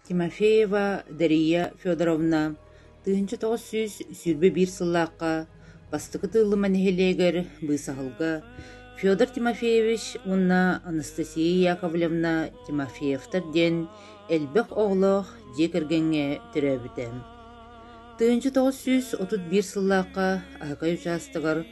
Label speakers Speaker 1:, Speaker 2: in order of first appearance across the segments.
Speaker 1: Тимофеева Дария Федоровна тыһыынча тоҕус сүүс сүүрбэ биир сыллаахха бастакы Тыыллыма нэһилиэгэр быысаһылга Федор Тимофеевич уонна Анастасия Яковлевна Тимофеевтар диэн элбэх оҕолоох дьиэ кэргэҥҥэ төрөөбүтэ. Тыһыынча тоҕус сүүс отут биир сыллаахха Аакай учаастагар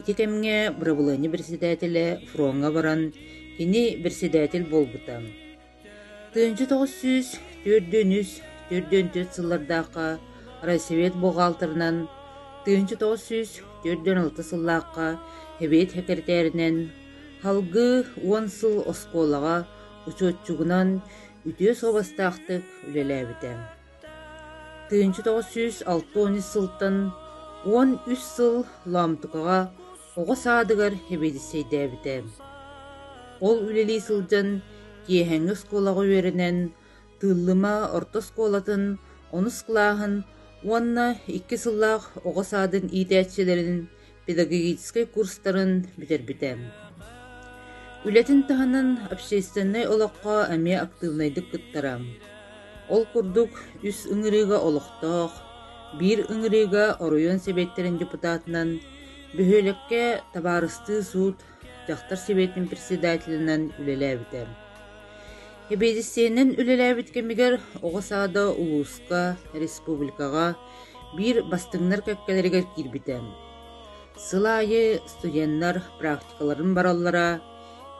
Speaker 1: Ити кэмҥэ бырабылыанньа бэрэссэдээтэлэ фроҥҥа баран, кини бэрэссэдээтэл буолбута. Тыһыынча тоҕус сүүс түөртүн үс төрдүөн төрт сыллардаахха райсовет буҕаалтырынан, тыһыынча тоҕус сүүс төрдүөн алта сыллаахха эбиэт сэкирэтээринэн, салгыы уон сыл оскуолаҕа учуотчугунан үтүө суобастаахтык үлэлээбитэ. тыһыынча тоҕус сүүс алта уон ис сылтан уон үс сыл Лаамтыкаҕа оҕо саадыгар эбиэдиссэйдээбитэ. Ол үлэлии сылдьан киэһээҥҥи оскуолаҕа үөрэнэн, Тыыллыма орто оскуолатын онус кылааһын уонна икки сыллаах оҕо саадын иитээччилэрин педагогическай курстарын бүтэрбитэ. Үлэтин таһынан общественнай олоххо эмиэ актыыбынайдык кыттара. Ол курдук, үс ыҥырыыга олохтоох, биир ыҥырыыга оройуон сэбиэттэрин депутатынан, бөһүөлэккэ табаарыстыы суут Дьахтар Сэбиэтин председателинэн үлэлээбитэ. Эбиэдиссэйинэн үлэлээбит кэмигэр оҕо саада улууска, республикаҕа биир бастыҥнар кэккэлэригэр киирбитэ. Сыл аайы студеннар практикаларын бараллара,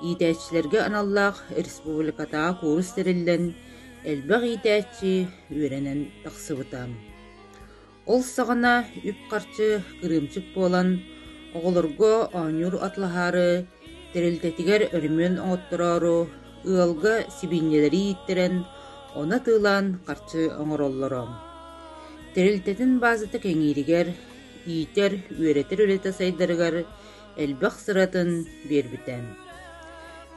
Speaker 1: иитээччилэргэ аналлаах республикатааҕы куурус тэриллэн, элбэх иитээччи үөрэнэн тахсыбыта. Ол саҕана үп-харчы кырыымчык буолан, оҕолорго оонньуур атлаһаары, тэрилтэтигэр өрөмүөн оҥоттороору, ыалга сибиинньэлэри ииттэрэн, ону атыылаан харчы оҥороллоро. Тэрилтэтин баазата кэҥииригэр, иитэр, үөрэтэр үлэтэ сайдарыгар элбэх сыратын биэрбитэ.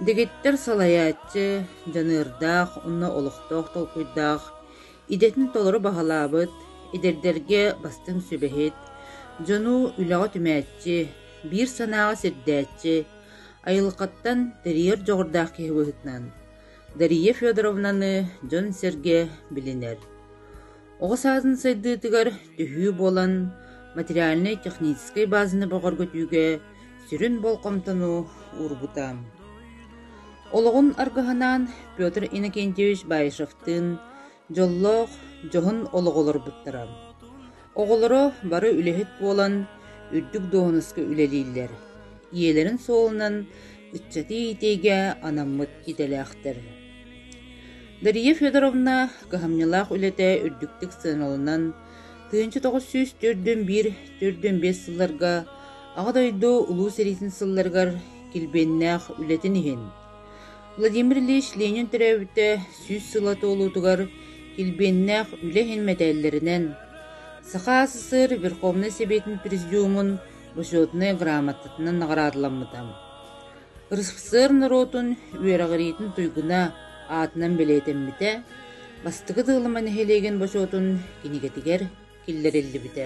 Speaker 1: Дэгиттэр салайааччы, дьаныардаах уонна олохтоох толкуйдаах, Идэтин толору баһылаабыт, эдэрдэргэ бастыҥ сүбэһит, дьону үлэҕэ түмээччи, биир санааҕа сирдээччи, айылҕаттан тэрийэр дьоҕурдаах киһи быһыытынан Дария Федоровнаны дьон-сэргэ билинэр. Оҕо саадын сайдыытыгар түһүү буолан материальнай-техническэй баазаны бөҕөргөтүүгэ Сүрүн болҕомтону уурбута. Олоҕун аргыһанаан Петр Иннокентьевич Баишевтыын дьоллоох дьоһун олоҕу олорбуттара. Оҕолоро бары үлэһит буолан, үрдүк дуоһунаска үлэлииллэр. Ийэлэрин суолунан ыччаты иитиигэ анаммыт идэлээхтэр. Дария Федоровна кыһамньылаах үлэтэ үрдүктүк сыаналанан, Тыһыынча тоҕус сүүс төрдүн биир төрдүн биэс сылларга Аҕа дойду Улуу сэриитин сылларыгар килбиэннээх үлэтин иһин Владимир Ильич Ленин төрөөбүтэ сүүс сыла туолуутугар килбиэннээх үлэ иһин мэтээллэринэн Саха СССР Верховнай Сэбиэтин Президиумун Учетнай грамотатынан наҕараадаламмыта. РСФСР норуотун үөрэҕириитин туйгуна аатынан бэлиэтэммитэ, Бастакы Сыалыма нэһилиэгин бочуотун кинигэтигэр киллэриллибитэ